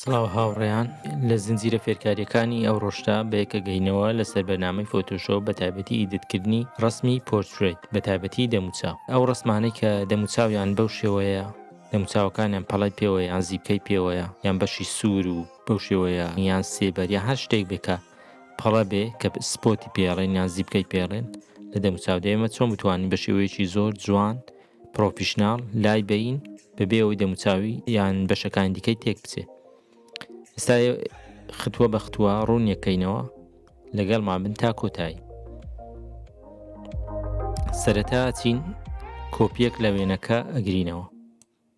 سڵاو هاوڕێیان لە زنجیرە فێرکاریەکانی ئەو ڕۆژدا بەیەکەگەینەوە لەسەر بەنامەی فۆتۆشۆ بە تایبەتی ئیدتکردنی ڕسمی پۆرترێت بە تایبەتی دەموچا ئەو ڕسمانەی کە دەموچاویان بەو شێوەیە دەموچاوەکانیان پەڵای پێوە یان زیپکەی پێوەیە یان بەشی سوور و بەو شێوەیە یان سێبەر یا هەر شتێک بێکە پەڵە بێ کە سپۆتی پێڵێن یان زیپکەی پێڵێن لە دەموچاو دێمە چۆن بتوانین بە شێوەیەکی زۆر جوان پرۆفیشناڵ لای بەین بەبێ ئەوەی دەموچاوی یان بەشەکانی دیکەی تێک بچێ ئستا ختووە بە ختووە ڕوونیەکەینەوە لەگەڵ مابن تا کۆتایی سەرەتا چین کۆپیەک لە وێنەکە ئەگرینەوە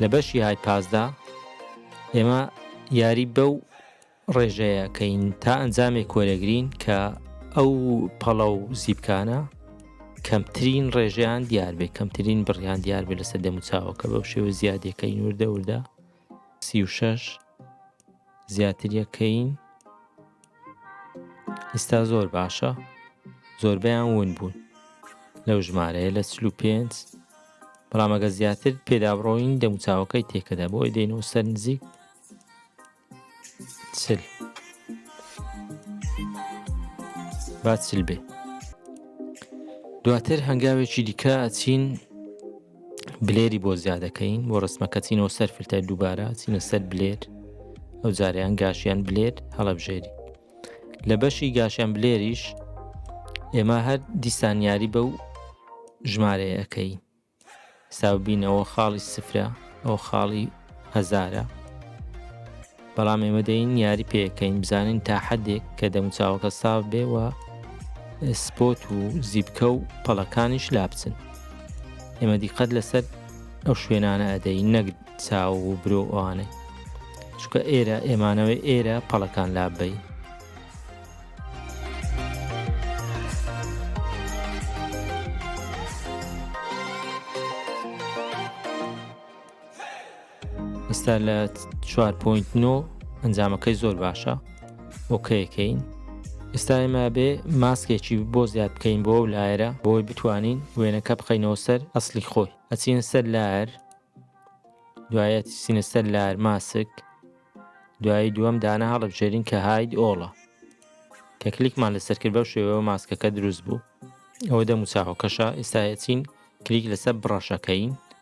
لە بەشی های پاسدا ئێمە یاری بەو ڕێژەیە کەین تا ئەنجامێک کۆرەگرین کە ئەو پەڵە و زیبکانە کەمترین ڕێژیان دیار بێ کەمترین بڕیان دیار بێ لەسەر دەموچاوەکە بەو شێوە زیادەکەی نووردە وردە سی و شش زیاتریەکەین ئیستا زۆر باشە زۆربەیان ون بوون لەو ژمارەیە لە چلو پێنج بەڵامەگە زیاتر پێدابڕۆین دەموچاوەکەی تێکەدا بۆ ئەی دێنەوە سەر نزیک چل با چل بێ دواتر هەنگاوێکی دیکە ئەچین بلێری بۆ زیادەکەین بۆ ڕسمەکە چینەوە سەر فلتەر دووبارە چینە سەر بلێر ئەو جاریان گاشیان بلێر هەڵەبژێری لە بەشی گاشیان بلێریش ئێمە هەر دیسانیاری بە و ژمارەیەکەی ساوبینەوە خاڵی سفرە ئەو خاڵی هەزارە بەڵام ئێمە دەین یاری پێکەین بزانین تا حەدێک کە دەموچاوەکە ساف بێ و سپۆت و زیبکە و پەڵەکانیش لا بچن ئێمە دیقەت لەسەر ئەو شوێنانە ئەدەی نەک چاو و برۆ ئەوانەی چکە ئێرە ئێمانەوەی ئێرە پەڵەکان لاببین ئستا لە 4.9 ئەنجامەکەی زۆر باشە ئۆکەیەکەین ئستا ئێمە بێ ماسکێکی بۆ زیاد بکەین بۆ و لایرە بۆی بتوانین وێنەکە بخینەوە سەر ئەسلی خۆی ئەچین سەر لار دوایەت سینە سەر لار ماسک دوایی دووەم دانە هەڵبژێرین کە هاید ئۆڵە کە کلیکمان لەسەر کرد بەو شێوەوە ماسکەکە دروست بوو ئەوە دەموچاوەکەشە ئێستاەچین کلیک لەسەر بڕەشەکەین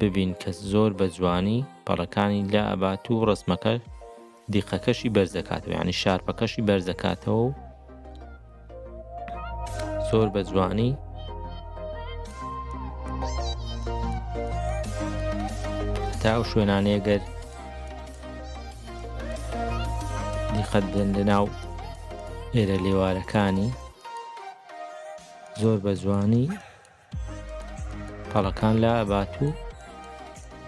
ببین کە زۆر بە جوانی پەڕەکانی لا ئەبات و ڕسمەکە دیقەکەشی بەرزەکاتەوە ینی شارپەکەشی بەرزەکاتەوە و زۆر بە جوانی تا ئەو شوێنانەیە گەر دیقەت بێن لە ناو ئێرە لێوارەکانی زۆر بە جوانی پەڵەکان لا ئەبات و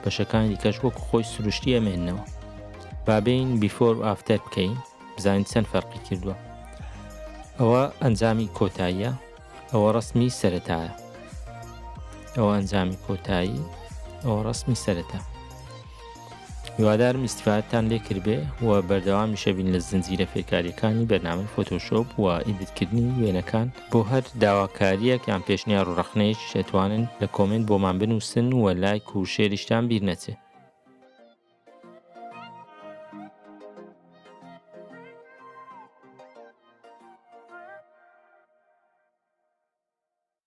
بەشەکانی دیکەش وەکو خۆی سروشتی ئەمێنەوە بابین بیفۆر و ئافتەر بکەین بزانین چەند فەرقی کردووە ئەوە ئەنجامی کۆتاییە ئەوە ڕسمی سەتایە ئەوە ئەنجامی کۆتایی ئەوە ڕسمی سەتە هیوادارم ئیستفادەتان لێ کردبێ و بەردەوامیشە بین لە زنجیرە فێرکاریەکانی بەرنامەی فۆتۆشۆپ و ئیدتکردنی وێنەکان بۆ هەر داواکاریەک یان پێشنیار و ڕخنەیەک شێتوانن لە کۆمنت بۆمان بنووسن و لایک و شێریشتان بیر نەچێت